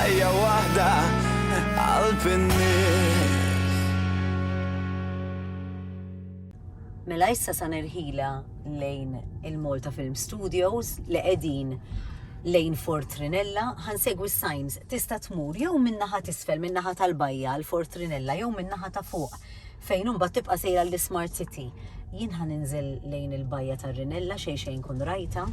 Ħajja waħda qalb in-nies. Mela issa sa nerħila lejn il-Malta Film Studios li qegħdin lejn Fort Trinella, ħansegwi s-signs, tista' tmur jew minnaħa tisfel minnaħa tal-bajja għal Fort Trinella jew minnaħa ta' fuq fejn imbagħad tibqa' sejra l-Smart City. Jien ħan inżel lejn il-bajja tar-Rinella xejn xejn kun rajta.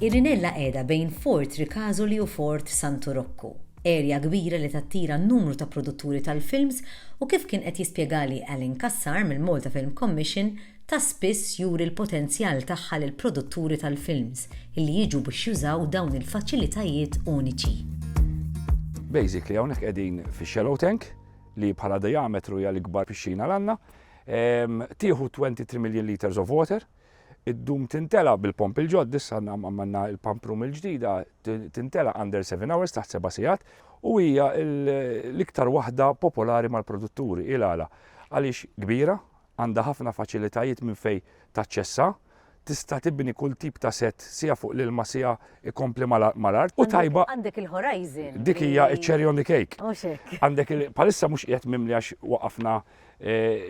Ir-Rinella qiegħda bejn Fort Ricasoli u Fort Santu Rokku, erja kbira li tattira numru ta' produtturi tal-films u kif kien qed jispjegali Alan Cassar mill-Malta Film Commission ta' spiss juri l-potenzjal tagħha lill-produtturi tal-films li jiġu biex jużaw dawn il-faċilitajiet uniċi. Basically hawnhekk qegħdin fix-shallow tank li bħala diametru hija l-ikbar pixxina l għandna. Tieħu 23 million liters of water, id-dum tintela bil-pomp il-ġodd, issa għammanna il-pump room il-ġdida, tintela under 7 hours, taħt 7 sigħat, u hija l-iktar waħda popolari mal-produtturi. Il-għala? Għaliex kbira, għandha ħafna faċilitajiet minn fejn taċċessa, tista' tibni kull tip ta' sett siha fuq l-ilma siha ikompli mal-art u tajba. Għandek il-horizon. Dik hija ċ-cherry on the cake. Mhux hekk. Għandek bħalissa mhux qiegħed mimli għax waqafna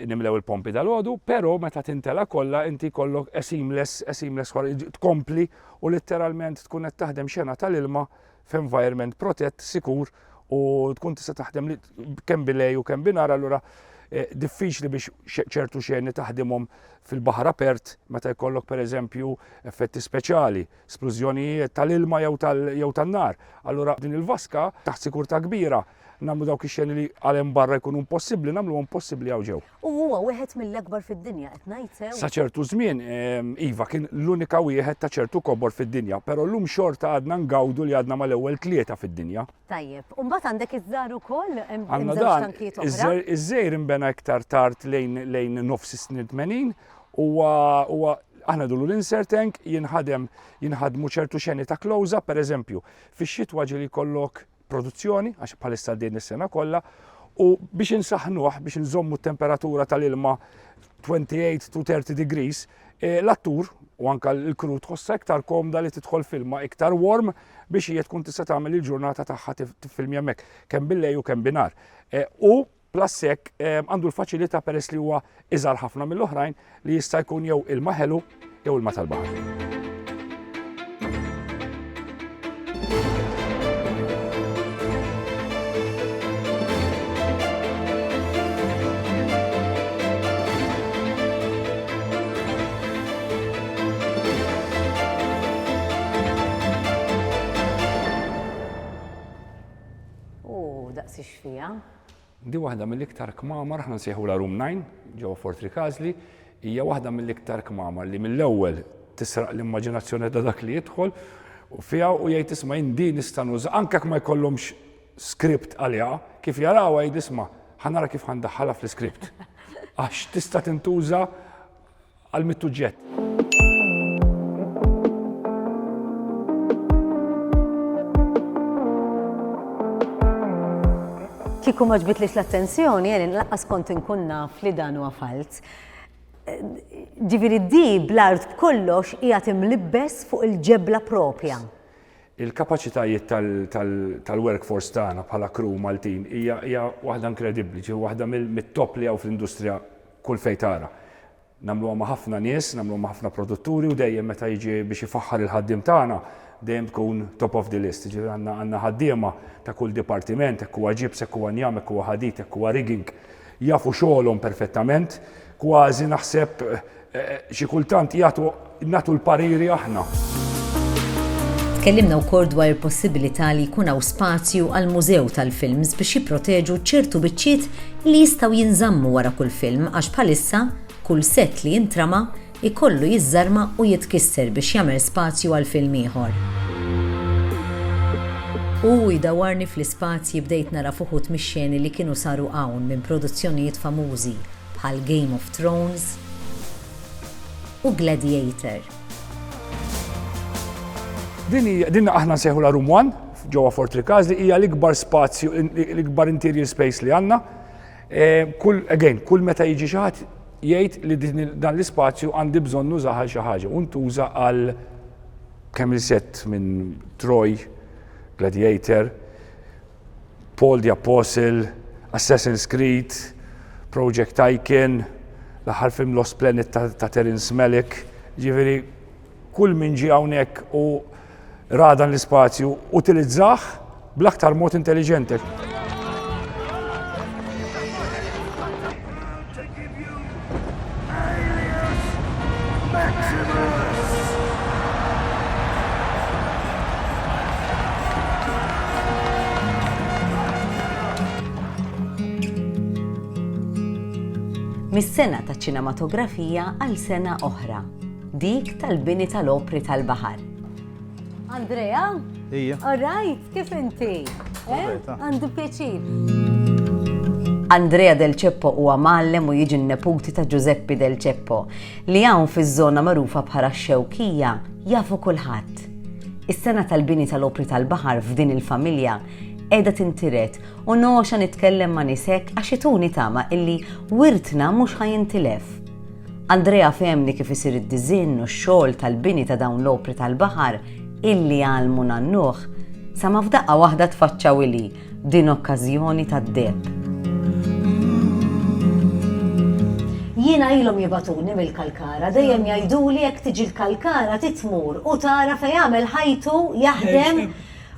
nimlew il-pompi dalgħodu, però meta tintela' kollha inti jkollok a seamless, a seamless tkompli u litteralment tkun qed taħdem xena tal-ilma f'environment protett, sikur u tkun tista' taħdem kemm bilej u kemm binar allura eh, diffiċli biex ċertu xeni taħdimhom fil-baħar apert meta jkollok pereżempju effetti speċjali, splużjonijiet tal-ilma jew tan-nar. Allura din il-vaska taħt sikurtà kbira nagħmlu dawk ix-xeni li għal hemm barra jkunu impossibbli, nagħmluhom possibbli hawn ġew. U huwa wieħed mill-akbar fid-dinja qed ngħid sew. Sa ċertu żmien ehm, iva kien l-unika wieħed ta' ċertu kobor fid-dinja, però llum xorta għadna ngawdu li għadna mal-ewwel tlieta fid-dinja. Tajjeb, u mbagħad għandek iż-żar ukoll hemm Għandna żewġ dan, tankijiet oħra. iż-żejr- iż-żejr imbena iktar tard lejn lejn nofs is-snin 80 huwa huwa aħna dulu l-insert tank jinħadem jinħadmu ċertu xeni ta' close-up, per eżempju, fix-xitwa ġili kollok produzzjoni għax bħalissa din is-sena kollha u biex insaħnuh biex nżommu t-temperatura tal-ilma 28 to 30 degrees, e, l-attur u anka l-kru tħossa iktar komda li tidħol filma iktar warm biex hija tkun tista' tagħmel il-ġurnata tagħha tifilmja mek kemm billej u kemm binar. E, u Plus hekk għandu l-faċilità peress li huwa iżgħar ħafna mill-oħrajn li jista' jkun jew ilma ħelu jew ilma tal-baħar. Di waħda mill-iktar kmamar, aħna nsejħulha Room Nine, ġewwa Fort Rikażli, hija waħda mill-iktar kmamar li mill-ewwel tisraq l-immaġinazzjoni ta' dak li jidħol fiha u jgħid isma' jien din nista' nuża anke jekk ma jkollhomx script għaliha, kif jarawha jgħid isma' ħa nara kif ħa ndaħħalha fl-iscript. Għax tista' tintuża għal mit-tuġġett. Kieku ma ġbitlix l-attenzjoni, jeni laqqas kont inkun naf li dan huwa falz. Ġifieri di bl-art b'kollox hija timlibbes fuq il-ġebla propja. Il-kapaċitajiet tal-workforce tagħna bħala crew Maltin hija waħda inkredibbli, ġi waħda mit-top li hawn fl-industrija Kull fejn tara. Nagħmluha ma' ħafna nies, nagħmluha ma' ħafna produtturi u dejjem meta jiġi biex ifaħħar il-ħaddiem tagħna dejjem tkun top of the list. Jiġifieri għandna għandna ħaddiema ta' kull dipartiment, hekk huwa ġibs, hekk huwa njam, hekk huwa ħadid, hekk huwa rigging. Jafu xogħolhom perfettament. Kważi naħseb xi kultant jagħtu nagħtu l-pariri aħna. Tkellimna wkoll dwar il-possibilità li jkun hawn spazju għal mużew tal-films biex jipproteġu ċertu biċċiet li jistgħu jinżammu wara kull film għax bħalissa kull sett li jintrama jkollu jiżżarma u jitkisser biex jagħmel spazju għal film ieħor. U jdawarni fl-ispazji bdejt nara f'uħud mix-xeni li kienu saru hawn minn produzzjonijiet famużi bħal Game of Thrones, u Gladiator. Din aħna nsejħulha Room One ġewwa Fort Ricaz li hija l-ikbar spazju, l-ikbar interior space li għandna. Eh, kull, again, kull meta jiġi xi ħadd jgħid li dan l-ispazju għandi bżonn nuża għal xi ħaġa u ntuża għal kemm il-set minn Troy, Gladiator, Paul the Apostle, Assassin's Creed, Project Tycoon, l-aħħar film Lost Planet ta', ta Terrence Malick, ġifieri kull min ġie hawnhekk u ra dan l-ispazju utilizzah bl-aktar mod intelliġenti. Mis-sena taċ-ċinematografija għal sena oħra, dik tal-bini tal-opri tal-baħar. Andrea? Ija. All right. Kif inti? Eh? Għandu pjaċir. Andrea Del Ceppo huwa mallem u jiġi n-neputi ta' Giuseppe Del Ceppo li hawn fiż-żona magħrufa bħala xewkija jafu kulħadd. Is-sena tal-bini tal-opri tal-baħar f'din il-familja edha tintiret u noxa nitkellem ma' nisek għax ituni tama illi wirtna mhux ħajintilef. Andrea fehemni kif isir id-diżinn u x-xogħol tal-bini ta' dawn l-opri tal-baħar illi għallmu nannuh, sa ma f'daqqa waħda tfaċċaw ilhi b'din okkażjoni tad-deheb. Jiena ilhom jibagħtuni mill-Kalkara, dejjem jgħiduli jekk tiġi l-Kalkara trid tmur u tara fejn għamel ħajtu jaħdem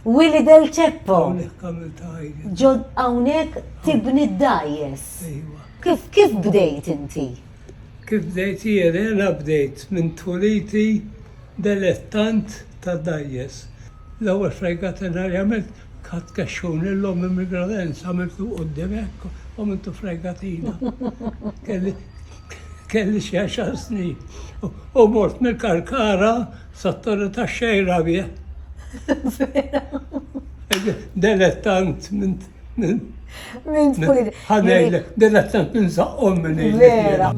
Willy Del Ceppo. Hawnhekk għamiltha ħajti. Ġo hawnhekk tibni d-dgħajjes. Ejwa. Kif, kif bdejt inti? Kif bdejt jiena bdejt minn tweliti delettant ta' dgħajjes. L-ewwel fregata nhar għamilt ħadt kexxun lil ommi mill-gradens għamiltu quddiem hekk u għamiltu fregatina. Kelli kelli xi għaxar snin u mort mill-karkara sat-Torri tax-Xejra bih. Delettant minn Min tkun id. Ħanejl, della tant ninżaqqhom minn id. Vera.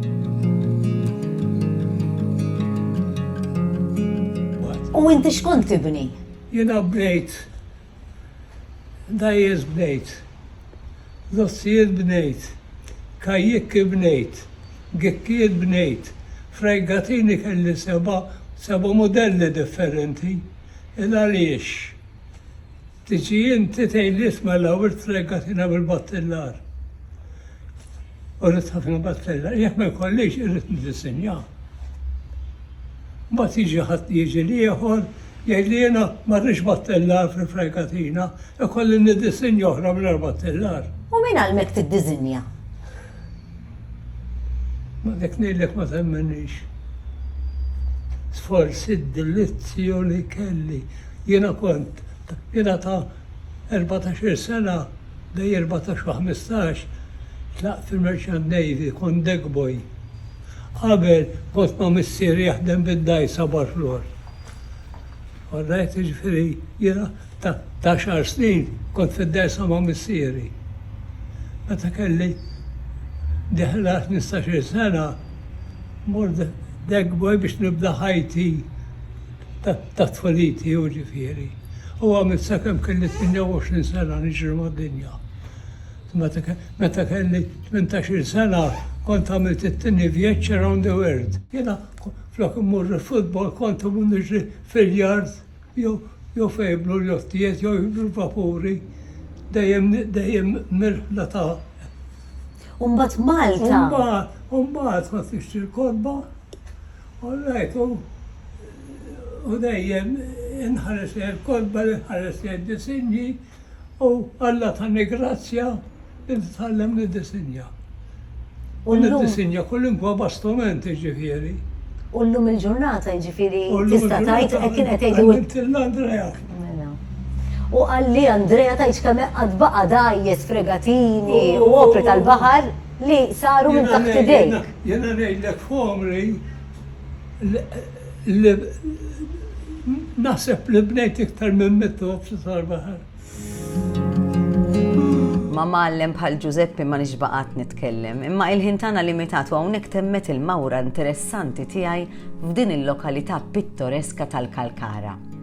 U inti xkont tibni? Jiena bnejt. Dajjes bnejt. Dossijiet bnejt. Kajjikki bnejt. Gikkijiet bnejt. Frajgatini kelli seba' seba' mudelli differenti. Il għaliex? Tiġi inti tgħid li isma' l-ewwel trega tina bil-battellar. U rrid ħafna battellar. Jekk ma jkollix irrid niddisinja. Mbagħad jiġi ħadd jiġi l-ieħor jgħid li jiena ma rridx battellar fil-fregatina, ikolli niddisinja oħra mingħajr battellar. U min għallmek tiddisinja? Ma dik ngħidlek ma temminix. Sforsi d-delizzju li kelli. Jiena kont, jiena ta' erbatax-il sena, bejn erbatax u ħmistax, tlaqt fil-Merchant Navy, kont deck boy. Qabel kont ma' missieri jaħdem bid-dgħajsa barħ l-għodd. All right, jiġifieri jiena. Ta' għaxar snin kont fid-dgħajsa ma' missieri. Meta kelli deħel għal ħmistax-il sena, mort Degboy biex nibda ħajti ta' tfuliti, hu ġifieri, u għamilt sakemm kelli 28 sena niġri mad-dinja. Meta kelli tmintax-il sena kont għamilt it-tieni vjeġġ around the world. Jiena flok immur il-futbol kont immur niġri fil-yard. jew fejn jibnu l-jottijiet jew jibnu l-vapuri dejjem dejjem mir-riħla ta' U mbagħad Malta. U mbagħad kont nixtri l-kotba u ngħid u u dejjem inħares lejn il-kotba, inħares lejn id-disinji, u Alla tani grazzja li nitgħallem niddisinja. U niddisinja kullimkwa bastiment jiġifieri. U llum il-ġurnata jiġifieri tista' tgħid hekk kien qed jgħidu. Għallimtilna Andrea. Mela. U qalli Andrea tgħidx kemm qatt baqa' dgħajjes, fregatini u opri tal-baħar li saru minn taħt idejk. Jiena ngħidlek f'għomri li naħseb li bnejt iktar minn mitt ozz tal-baħar. Ma' mgħallem bħal Ġużeppi ma nix baqgħat nitkellem, imma il-ħin tagħna limitat u hawnhekk temmet il-mawra interessanti tiegħi f'din il-lokalità pittoreska tal-Kalkara.